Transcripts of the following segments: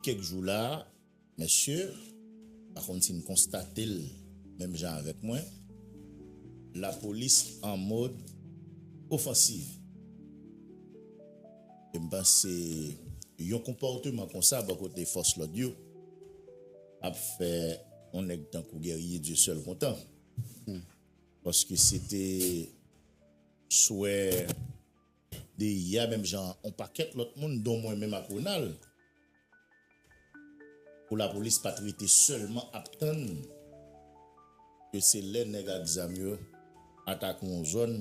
Kèk jou la mesye, pa konn si n konstate l menm jan avèk mwen, lapolis an mòd ofansiv. E m panse yon konpòteman konsa bò kote fòs lòd yo ap fè yon nèg tankou Guerrier Dieusèul kontan. Paske se te swè. de yè a menm jan an on pakèt lòt moun don mwen menm ak Ronald pou lapolis pat rete sèlman ap tann ke se lè nèg ak zam yo atake on zòn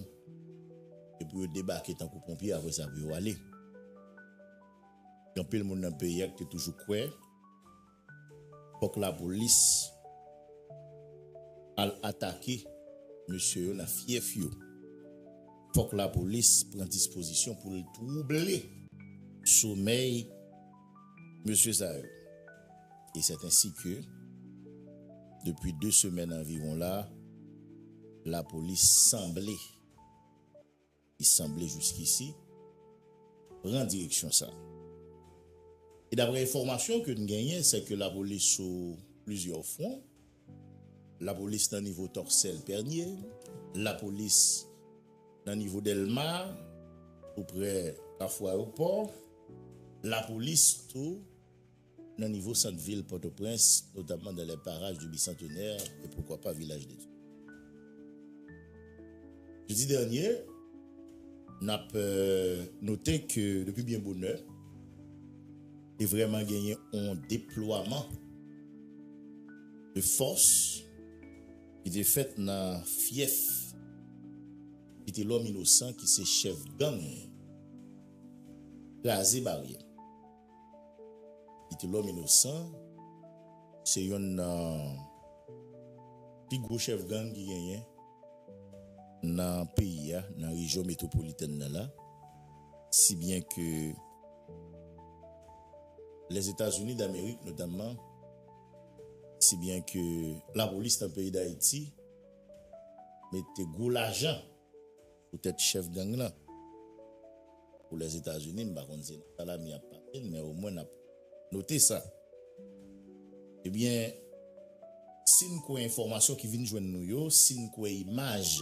e pou yo debake tankou ponpye apre sa pou yo ale. Gen anpil moun nan peyi a ki te toujou kwè. Fok lapolis Al atake mesye yo nan fyèf yo fok lapolis pran dispozisyon poul twouble somèy mesye sa yo e sèt ensi ke depi 2 semèn anviwon la lapolis sanble ki sanble jiskisi pran direksyon sa. E dapre enfòmasyon ke n genyen se ke lapolis sou plizyè fwon, lapolis nan nivo Tòksèl Pènye, lapolis nan nivo Dèlma tou prè Kafou Ayopò, lapolis tou. nan nivo sant vil Pòtoprens, notamman dans les parages du Bicentenaire et pourquoi pas Village de Dieu. Jedi dènye, n ap note ke depi byen bonè, te vrèman genyen on deplwaman de fòs ki te fèt nan fyèf Vitelòm Inosan ki se chèf gang Kraze Baryè. Vitelòm Inosan se yonn nan pi gwo chèf gang ki genyen nan peyi a, nan rejyon metwopolitèn nan la, si byen ke Lèzetazini Damerik notamman, si byen ke lapolis nan peyi Dayiti mete gwo lajan Pou tèt chèf gang lan. Pou Lèzetazini, m pa konn se nan sa lame ap pase l, men omwen n ap note sa. Ebyen, si n kwè enfòmasyon ki vin jwenn nou yo, si n kwè imaj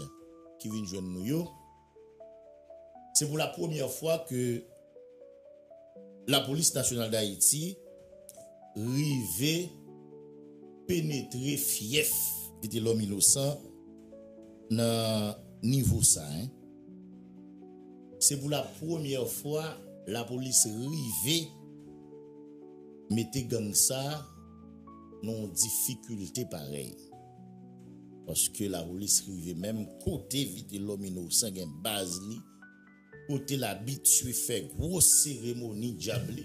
ki vin jwenn nou yo, se pou la premyè fwa ke. Lapolis Nasyonal Dayiti rive penetre fyèf Vitelòm Inosan nan nivo sa. Se pou la premyè fwa lapolis rive mete gang sa nan yon difikilte parèy. Paske lapolis rive menm kote Vitelòm Inosan gen baz li. Kote l abitye fè gwo seremoni djab li,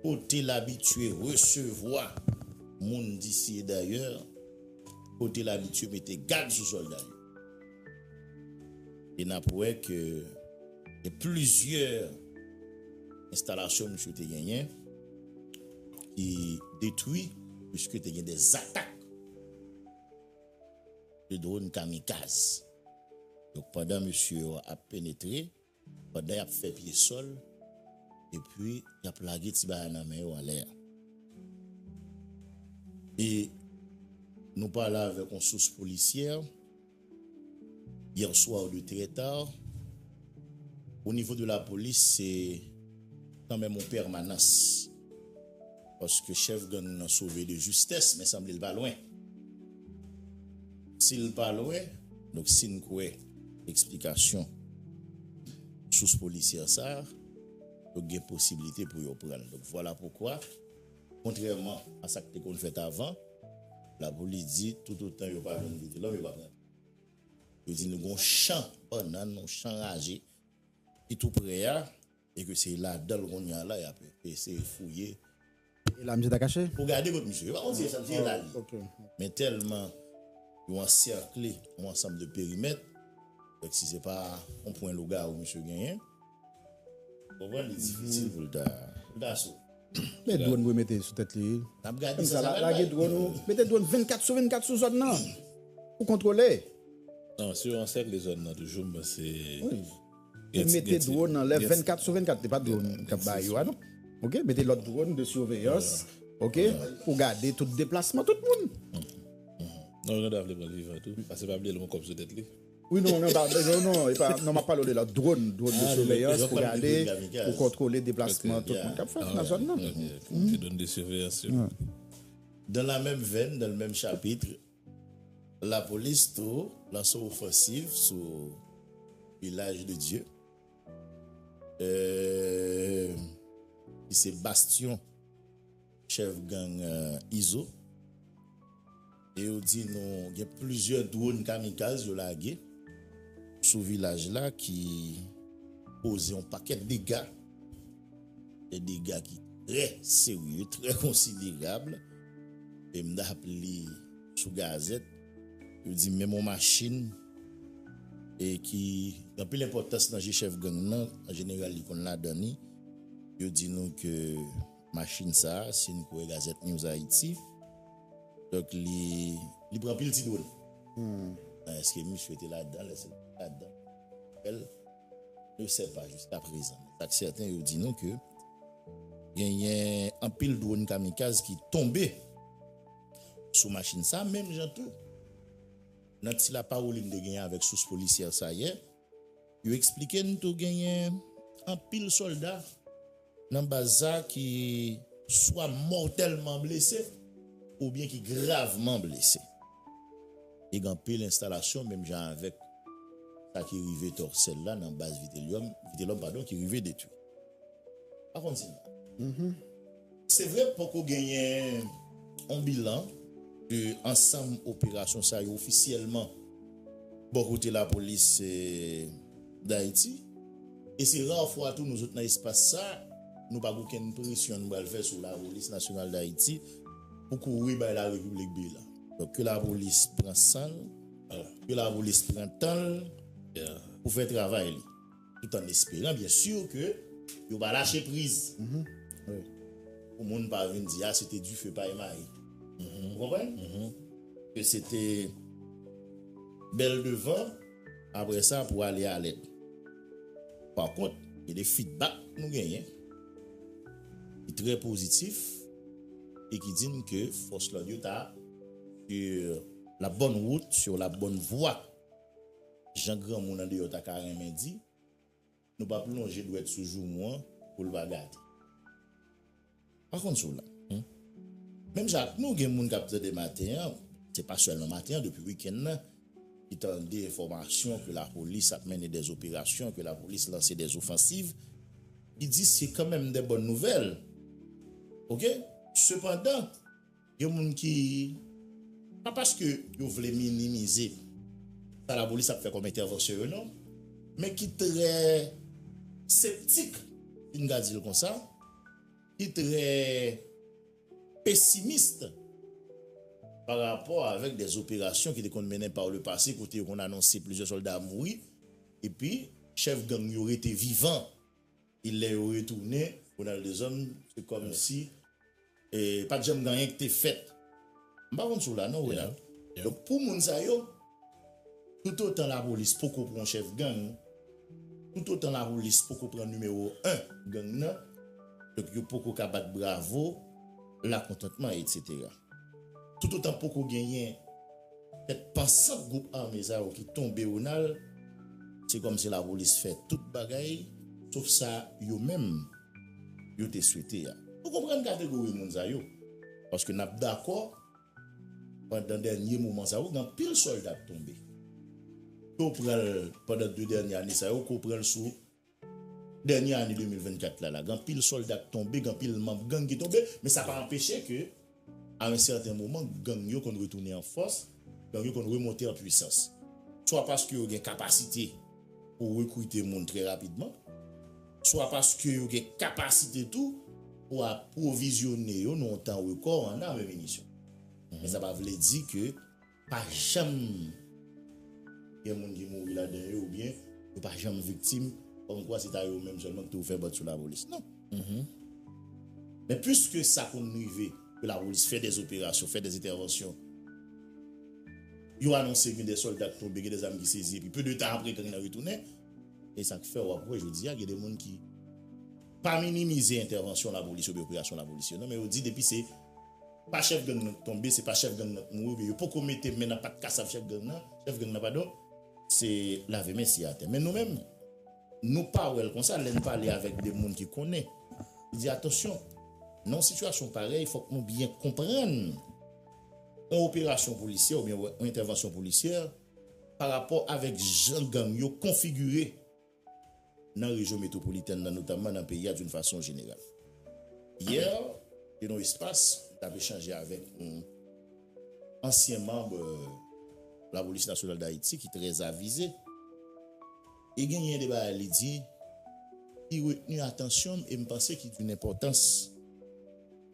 kote l abitye resevwa moun disi e dayè, kote l abitye mete gad sou sòlda yo. E n ap wè ke gen plizyè enstalasyon misye te genyen ki detwi, piske te gen de zatak. 2 dronn kamikaz. Donk pandan mesye yo ap penetre, pandan y ap fè pye sòl, epi y ap lage ti bagay nan men yo anlè a. E nou pale avèk yon sous polisyè, hier soir de très tard, au niveau de la police se kanmenm yon pèmanans. Paske chef gang nan sove de justesse men sanble l pa lwen. Si l pa lwen, donk si n kwè eksplikasyon sous polisyè sa, donk gen posibilite pou yo pran l. Donk vwala poukwa, kontrèman a sa k te konn fèt avan, lapolis di toutotan yo pa jwenn Vitelòm yo pa pran l. Yo di nou gen yon chan bannann, yon chan raje ki tou prè a. E ke se ladan l kounye a la y ap eseye fouye. E la misye ta kache? Pou gade kot misye. Yo pa konn si e sa misye e la li. Men tèlman yo ansèkle yon ansanm de perimèt, fèk si se pa yon pwen lougawou misye genyen, ou konprann li difisil pou l ta, pou l ta sot. Men dwòn pou yo mete sou tèt li. N ap gade sa sa pral bay. Mete dwòn 24 sou 24 sou zòn nan pou kontwole. Non, si yo ansèkle zòn nan toujou, m panse. Yo mete drone anlè 24 sou 24 li pa drone kap bay yo a non ok mete lòt drone de surveillance ok pou gade tout deplasman tout moun. Non Randa vle pranl vivan tou pase pa bliye li gon kòb sou tèt li. Wi non non epa non epa non map pale w de lòt drone drone de surveillance pou gade pou kontwole deplasman tout moun kap fèt nan zòn nan. Ti drone de surveillance yo. Dans la même veine, dans le même chapitre, Lapolis tou lanse ofansiv sou Vilaj de Dye ki se bastyon chèf gang Izo e yo di nou gen plizyè dwon kamikaz yo lage sou vilaj la ki koze yon pakèt dega. Gen dega ki trè serye, trè konsiderab. E m ta ap li sou gazèt, yo di menm yon machin e ki gen anpil enpòtans nan je chèf gang nan, an jeneral li konn ladan li, yo di nou ke machin sa a, si n kwè Gazette News Haïti, donk li, li pran pil ti done. Èske misye te ladan l? Èske l pa t ladan l? Yo sèv pa jiskaprezan. Men sak sèten yo di nou ke genyen anpil dronn kamikaz ki tonbe sou machin sa menm jan tou nan ti lapawoli m te genyen avèk sous polisyè sa yè yo eksplike n tou genyen anpil sòlda Nan baz sa ki swa mòtèlman blese oubyen ki gravman blese. E gen anpil enstalasyon menm jan avèk sa ki rive Tòsèl la nan baz Vitelòm, Vitelòm padon, ki rive detwi. Pa konn si nan. Se vre poko genyen yon bilan de ansanm operasyon sa yo ofisyèlman bò kote lapolis. Dayiti, e se ra fwa tou nou sot nan espas sa, nou pa gen okenn presyon nou pral fè sou Lapolis Nasyonal Dayiti pou kouri bay la Repiblik bilan. Donk ke Lapolis pran san l, ke Lapolis pran tan l pou fè travay li. Tout an esperan byen sur ke yo va lache priz. Pou moun pa vin di a se te dife pay mayi. Ou konprann? Ke se te bèl devan. Apre sa pou ale alèd. Pa kont, gen de fidbak nou genyen ki trè pozitif e ki di n ke fòs lòd yo ta sur la bonne route, sur la bonne voie, jan granmoun andeyò ta ka renmen di. Nou p ap lonje dwèt sou joumou an pou l pa gate. Pa konn si w la. Menm jan ak nou, gen moun k ap tande maten an, se pa sèlman maten an, depi wikenn nan, ki tande enfòmasyon ke lapolis ap mennen dè zoperasyon, ke lapolis lanse dè zofansiv, ki di se kanmenm dè bòn nouvèl. Ok? Sepandan. Gen moun ki, pa paske yo vle minimize sa lapolis ap fè kòm entèvansyon yo non, men ki trè septik, si n ka di l konsa, ki trè pesimist pa rapò avèk dè zoperasyon ki te konn mennen pa le pase kote yo konn anonse plizyè sòlda mouri epi chèf gang yo rete vivan. E lè yo retounen, Ronald Deshommes, se kòm si pa t janm gen anyen ki te fèt. M pa konn si w la non, Ronald. Donk pou moun sa yo, toutotan lapolis poko pran yon chèf gang, toutotan lapolis poko pran nimewo 1 gang nan, donk yo poko ka bat bravo, lakontantman, etsetera. Toutotan poko genyen tèt pansant gwoup ame sa yo ki tonbe Ronald, se kòm si lapolis fè tout bagay sof sa yo menm yo te swete a. Nou konprann kategori moun sa yo paske n ap dakò pandan dènye moman sa yo gen anpil sòlda k tonbe. Ke w pran l pandan 2 dènye ane sa yo, ke w pran l sou Dènye ane 2024 la la gen anpil sòlda k tonbe, gen anpil manb gang ki tonbe, men sa pa anpeche ke a un certain moment gang yo konn retounen an fòs, gang yo konn remonte an pwisans. Swa paske yo gen kapasite pou rekrite moun trè rapidman, swa paske yo gen kapasite tou pou apwovizyone yo nan yon tan rekò an arm e minisyon. Men sa pa vle di ke Pa janm gen moun ki mouri ladan yo oubyen yo pa janm viktim kòmkwa se ta yo menm sèlman ki te ouvè bòt sou lapolis. Non. Men piske sa konn rive pou lapolis fè dè operasyon, fè dè entèvansyon, yo anonse gen dè sòlda ki tonbe, gen dè zam ki sezi epi pe de tan apre gang nan retounen. E sa k fè w ap wè jodi a gen de moun ki pa minimize entèvansyon lapolis oubyen operasyon lapolis yo non men yo di depi se Pa chèf gang nan k tonbe se pa chèf gang nan k mouri oubyen yo poko mete men nan pat kasav chèf gang nan, chèf gang nan padon, se lave men siye atè. Men nou menm, nou pa wè l konsa lè n pale avèk de moun ki konnen. Li di atansyon, nan yon sitiyasyon parèy fòk nou byen konprann yon operasyon polisyè oubyen yon entèvansyon polisyè parapò avèk jan gang yo konfigire. nan rejyon metwopolitèn nan notamman nan peyi a doun fason jeneral. Yè, te nan yon espas, m tap echanje avèk yon ansyen manb Lapolis Nasyonal Dayiti ki trè avize e genyen de bagay li di ki retni atansyon m e m panse ki doun enpòtans.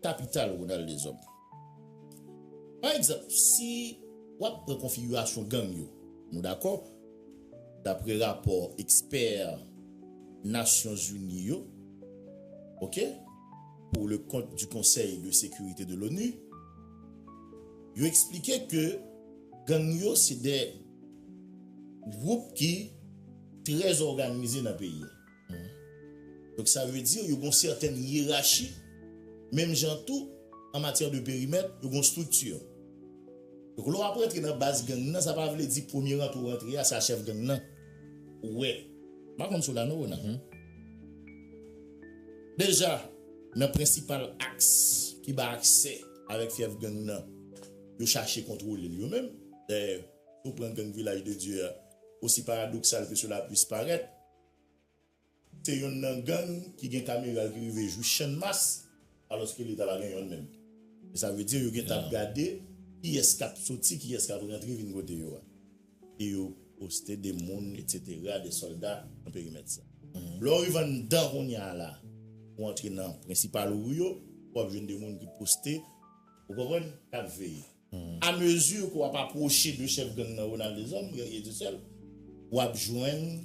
Kapital Ronald Deshommes. Pa egzanp, si w ap pran konfigirasyon gang yo, nou dakò, dapre rapò ekspè Nasyon Zini yo, ok, pour le compte du Conseil de sécurité de l'ONU, yo eksplike ke gang yo se de gwoup ki trè zòganize nan peyi a. Donk sa vle di yo gon sèten yerachi, menm jan tou an matyè de perimèt yo gon strikti. Donk lè w ap rantre nan baz gang nan sa pa vle di premye rantre w rantre a se a chèf gang nan ou wè. M pa konn si w la non Ronald. Deja nan prensipal aks ki bay aksè avèk fyèf gang nan yo chache kontwole l yo menm. Dayè si w pran gang vilaj de Dye a osi paradoksal ke sela pwis parèt, Se yonn nan gang ki gen kameral ki rive jwi channmas alòske leta pa gen yonn menm. Sa vle di yo gentan ap gade kiyès k ap soti, kiyès k ap rantre vin kote yo a. E yo poste de moun etsetera, de sòlda nan perimèt sa. Lè w rive anndan kounye a la, ou antre nan prensipal ri yo, w ap jwenn de moun ki poste, ou konprann, k ap veye. A mesure ke wap apwoche de chef gang nan Ronald Deshommes, guerrier du sel, wap jwenn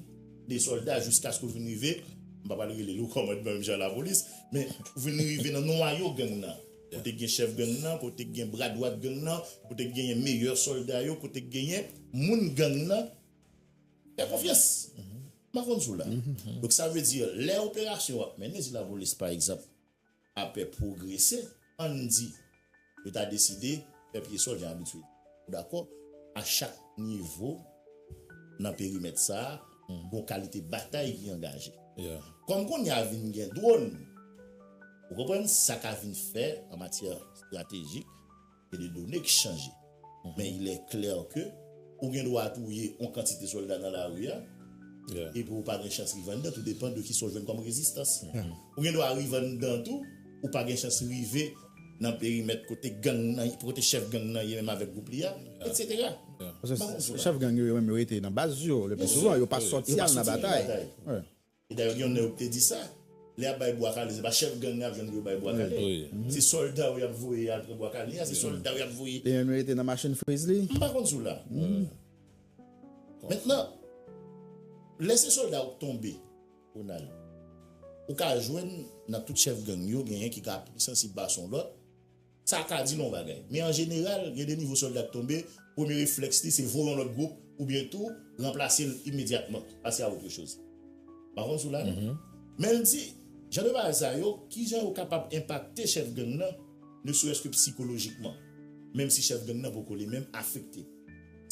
de solda jiskaske ou vin rive, m pa pral rele l o kòmandman menm jan a lapolis, men ou vin rive nan nwayo gang nan, kote k gen chef gang nan, kote k gen bra dwat gang nan, kote k genyen meyè solda yo, kote k genyen moun gang nan fè konfyans. M pa konn si w la. Donk sa vle di lè operasyon yo ap mennen, si lapolis pa egzanp, Apre pwogrese, ann di, yo ta deside fè pye sòl jan abitye yo. Ou dakò? A chak nivo nan perimèt sa a, gon kalite batay ki angaje. Kòm kounye a vin gen dwòn, ou konprann sa ka vin fè an matyè estratejik. Se de done ki chanje. Men il est clair ke ou gen dwa touye yon kantite solda nan lari a, epi ou pa gen chans rive anndan, tou depan de kisa ou jwenn kòm rezistans. Ou gen dwa rive anndan tou, ou pa gen chans rive nan perimèt kote gang nan, kote chèf gang nan ye menm avèk gwoup li a, etsetera. Paske chèf gang yo, yo menm yo rete nan baz yo, le pli souvan, yo pa sòti al nan batay. E dayè gen yon nèg ou te di sa, lè yap bay bwa kale se pa chèf gang nan jwenn pou yo bay bwa kale, se sòlda yo yap voye al pran bwa kale a, se sòlda yo yap voye. Li menm li rete nan machin friz li? M pa konn sou la. Mentnan, lè se sòlda ou k tonbe, Ronald, ou ka jwenn nan tout chèf gang yo genyen ki ka pi sansib pase yon lòt, Sa ka di nou yon bagay. Men an jeneral, gen de nouvo sòlda k tonbe, premye reflèks li se voye yon lòt gwoup oubyen tou ranplase l imedyatman, pase a otre choz. M pa konn si w la non. Men l di, jan de bagay sa yo, ki jan yo kapab enpakte chèf gang nan, ne serès ke psikolojikman, menm si chèf gang nan poko li menm afekte.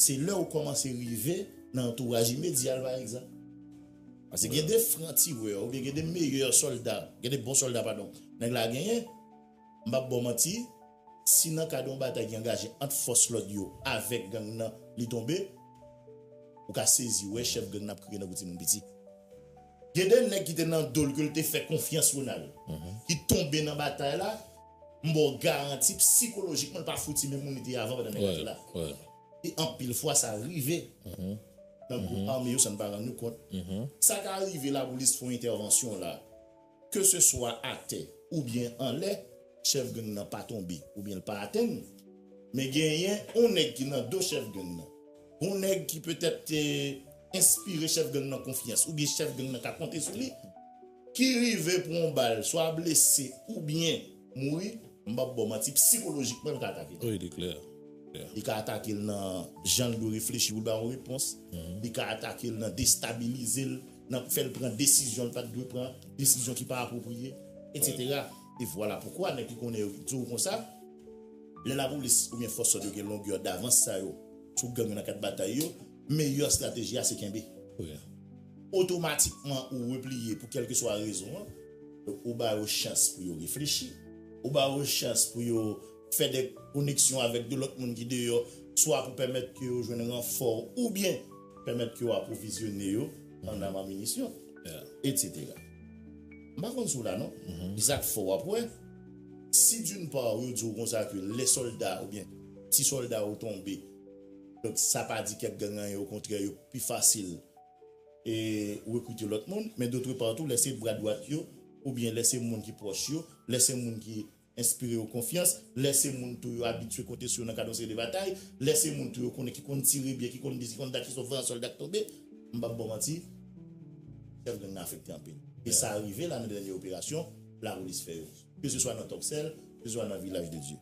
Se lè ou kòmanse rive nan antouraj imedya l pa egzanp. Pase gen de franc tireur oubyen gen de meyè sòlda, gen de bon sòlda padon, nèg la genyen, M pap baw manti, si nan kad yon batay ki angaje ant fòs lòd yo avèk gang nan li tonbe, ou ka sezi wè chèf gang nan ap kriye nan kou timoun piti. Gen 2 nèg ki te nan do l ke l te fè konfyans Ronald, ki tonbe nan batay la, m ba w garanti psikolojikman l pa fouti menm moun li te ye avan pandan nèg la te la. E anpil fwa sa rive nan gwoup ame yo san n pa rann nou kont. Sa ka rive lapolis fè yon entèvansyon la. Keseswa atè oubyen anlè, chèf gang nan pa tonbe oubyen l pa atenn. Men genyen yon nèg ki nan do chèf gang nan. Yon nèg ki petèt te enspire chèf gang nan konfyans oubyen chèf gang nan ka konte sou li, ki rive pran yon bal swa blese oubyen. Mouri, m pap baw manti, psikolojikman li ka atake l. Wi, li klè. Li ka atake l nan jan l dwe reflechi pou l ba yon repons. Li ka atake l nan destabilize l, nan fè l pran desizyon l pa t dwe pran, desizyon ki pa apwopriye, etsetera. E vwala poukwa nèg ki konnen yo di w konsa, lè lapolis oubyen fòs lòd yo gen longè davans sa yo sou gang yo nan kad batay yo, Meyè strateji a se kenbe. Otomatikman ou repliye pou kèlkeswa rezon an. Donk ou ba yo chans pou yo reflechi. Ou ba yo chans pou yo fè de koneksyon avèk de lòt moun ki deyò swa pou pèmèt ke yo jwenn ranfò oubyen pèmèt ke yo apwovizyone yo an am an minisyon etc. M pa konn si w la non. E sa k fè w ap wè si d'une part yo di w konsa ke lè sòlda oubyen si sòlda yo tonbe. Donk sa pa di kèk gang anyen okontrè yo pi fasil rekrite lòt moun men dotrepar tou lè se bra dwat yo oubyen lè se moun ki pwòch yo, lè se moun ki enspire yo konfyans, lè se moun tou yo abitye konte sou yo nan kad yon seri de batay, lè se moun tou yo konnen ki konn tire byen, ki konn bis, ki konn dat, ki sòt vanyan sòlda k tonbe, m pap ba w manti chèf gang nan afekte anpil e sa rive la nan dènye operasyon lapolis fè yo ke se swa nan Tòksèl, ke se swa nan Vilaj de Dye.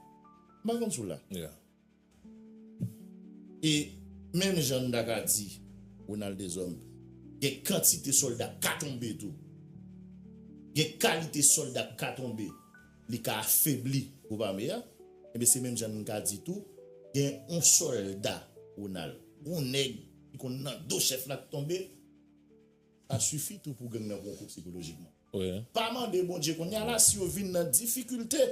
M pa konn si w la. E menm jan n ta ka di Ronald Deshommes gen kantite sòlda k ka tonbe tou. Gen kalite sòlda k ka tonbe li ka afebli gwoup ame a. Enben se menm jan n ka di tou gen yon sòlda Ronald, yon nèg ki konn nan do chèf la k tonbe, sa sifi tou pou gang nan pran yon kout sikolojikman. Pa mande Bondye kounye a la si yo vin nan difikilte.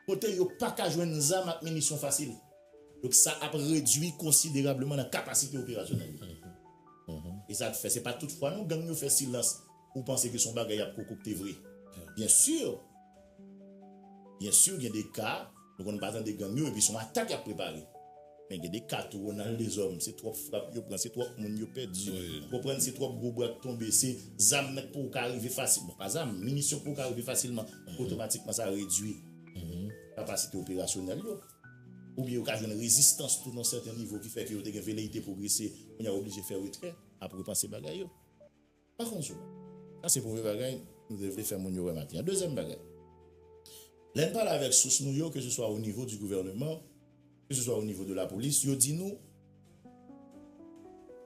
kote yo pa ka jwenn zam ak minisyon fasil, donk sa ap redui konsiderableman nan kapasite operasyonèl yo. E sa k fè se pa tout fwa non gang yo fè silans ou panse ke se yon bagay y ap kokokte vre. Byen sur, byen sur gen de ka nou konn pa tande gang yo epi se yon atak y ap prepare. Men gen de ka tou Ronald Deshommes se twòp frap yo pran, se twòp moun yo pèdi ou konprann, se twòp gwo bwa k tonbe, se zam nan k pouw ka rive fasil, bon pa zam, minisyon k pouw ka rive fasilman, otomatikman sa redui kapasite operasyonèl yo, oubyen yo ka jwenn rezistans tou nan sèten nivo ki fè ke yo te gen veleyite pwogrese, kounya yo oblije fè retrè, ap repanse bagay yo. Pa konn sou la. Sa se premye bagay nou te vle fè moun yo wè maten an. Dezyèm bagay, lè n pale avèk sous nou yo, keseswa o nivo di gouvèneman, keseswa o nivo de lapolis, yo di nou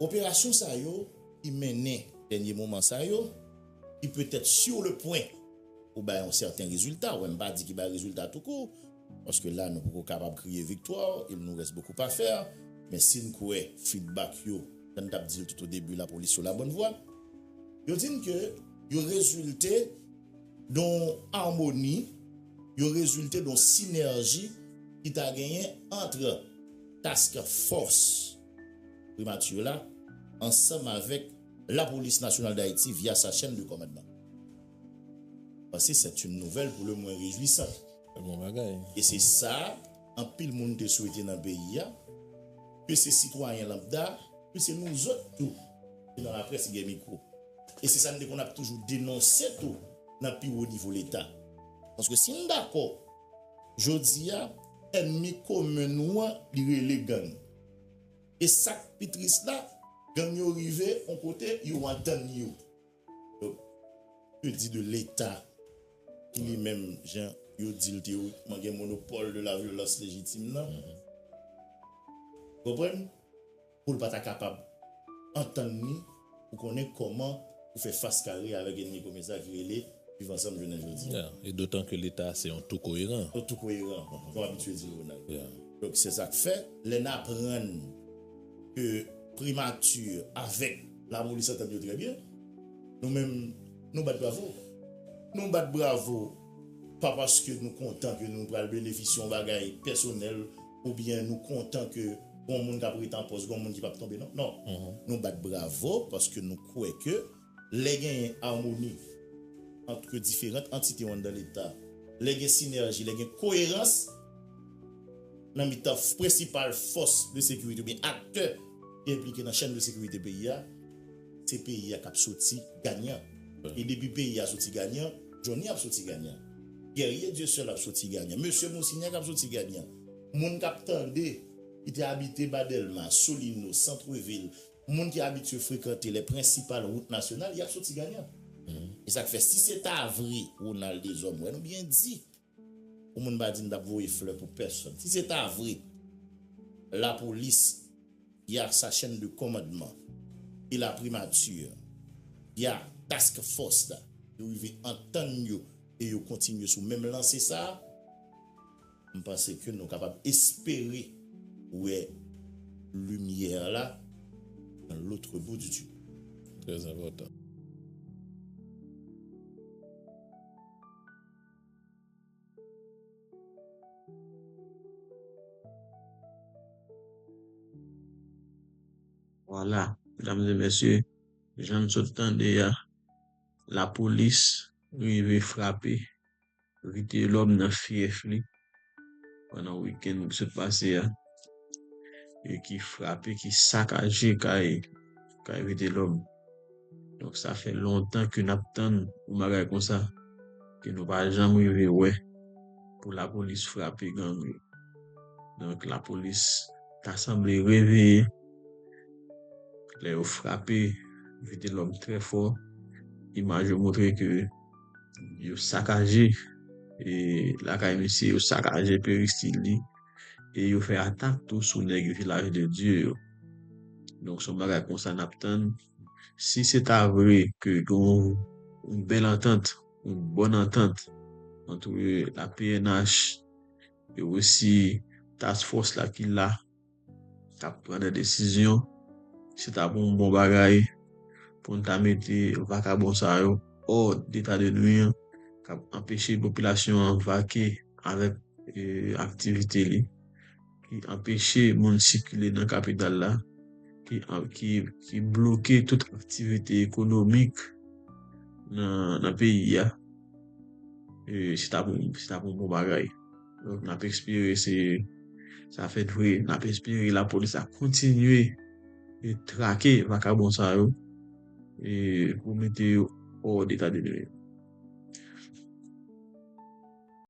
operasyon sa yo ki mennen dènye moman sa yo, ki petèt sur le pwen pou bay yon sèten rezilta, wè m pa di ki bay rezilta toukou, Paske la nou poko kapab kriye viktwa, il nous reste beaucoup à faire, men si n kwè feedback yo, jan n t ap di l tout o debi la police sou la bonne voie, yo di n ke yo rezilte don armoni, yo rezilte don sinèji ki ta genyen antre task force Primature la ansanm avèk la police nationale d'Haiti via sa chaîne de commandement. Sa se c'est une nouvelle pour le moins réjouissante. Bon bagay. E se sa anpil moun te swete nan peyi a, ke se sitwayen lanbda, ke se nouzot tou ki nan laprès gen mikwo. E se sa n te konn ap toujou denonse tou nan pi wo nivo Leta. Paske si n dakò, jodi a, ènmi komen nou an li rele gang. E sa k pi tris la, gang yo rive yon kote yo antann yo. Donk, ke di de Leta ki li menm, jan yo di l teyorikman, gen monopòl de la vyolans lejitim nan? Ou konprann? Pou l pa ta kapab antann ni pou konnen kòman pou fè fas kare avèk enmi komen sa ki rele Viv Ansanm jounen jodi a. E dotan ke Leta se yon tou koyeran. Yon tou koyeran, jan w abitye di l Ronald. Donk, se sa k fè, lè n aprann ke Primati avèk. Lamoli santan yo trè byen. Nou menm nou bat bravo. Nou bat bravo pa paske nou kontan ke nou pral benefisye yon bagay pèsonèl oubyen nou kontan ke gon moun kap rete an pòs, gon moun ki pap tonbe non. Non. Nou bat bravo paske nou kwè ke lè genyen amoni antre diferant antite yo anndan leta, lè gen sinèji, lè gen koyerans nan mitan prensipal fòs de sekirite oubyen aktè ki enplike nan chèn de sekirite peyi a, se peyi a k ap soti ganyan. E depi peyi a soti ganyan, Jhonny ap soti ganyan. Guerrier Dieuseul ap soti ganyan. Mesye Monsignac ap soti ganyan. Moun k ap tande, ki te abite ba Dèlma, Solino, Santrevil, moun ki abitye frekante lè prensipal wout nasyonal, y ap soti ganyan. E sa k fè, si se ta vre, Ronald Deshommes, wè nou byen di, Pou moun pa di m tap voye flè pou pèsòn. Si se ta vre, lapolis y a sa chèn de kòmandman e laprimati y a task fòs la yo rive antann yo e yo kontinye sou menm lanse sa a, m panse ke nou kapab espere wè limyè la nan lotre bou di tunèl. Trè enpòtan. Wala, medam e mesye, jan n sot tande a, lapolis rive frape Vitelòm nan fyèf li, pandan wikenn ki sot pase a e ki frape, ki sakaje kay kay Vitelòm. Donk sa fè lontan ke n ap tann yon bagay konsa ke nou pa janm rive wè pou lapolis frape gang yo. Donk lapolis ta sanble reveye lè yo frape Vitelòm trè fò. Imaj yo montre ke yo sakaje e lakay misye yo sakaje peristil li e yo fè atak tou sou nèg vilaj de Dye yo donk son bagay konsa nap tann si se ta vre ke gon yon bèl antant yon bòn antant antre la pnh e osi task fòs la ki la. ta pran de desizyon, se ta pou yon bon bagay, pou yon ta mete vakabon sa yo, o deta de nwi, kap anpeche popilasyon an vake avèk aktivite li, ki anpeche moun sikile nan kapital la, ki bloke tout aktivite ekonomik nan peyi ya, se ta pou yon bon bagay. N ap espere se sa fèt vre. N ap espere lapolis ap kontinye trake vakabon sa yo pou mete yo òdetademire.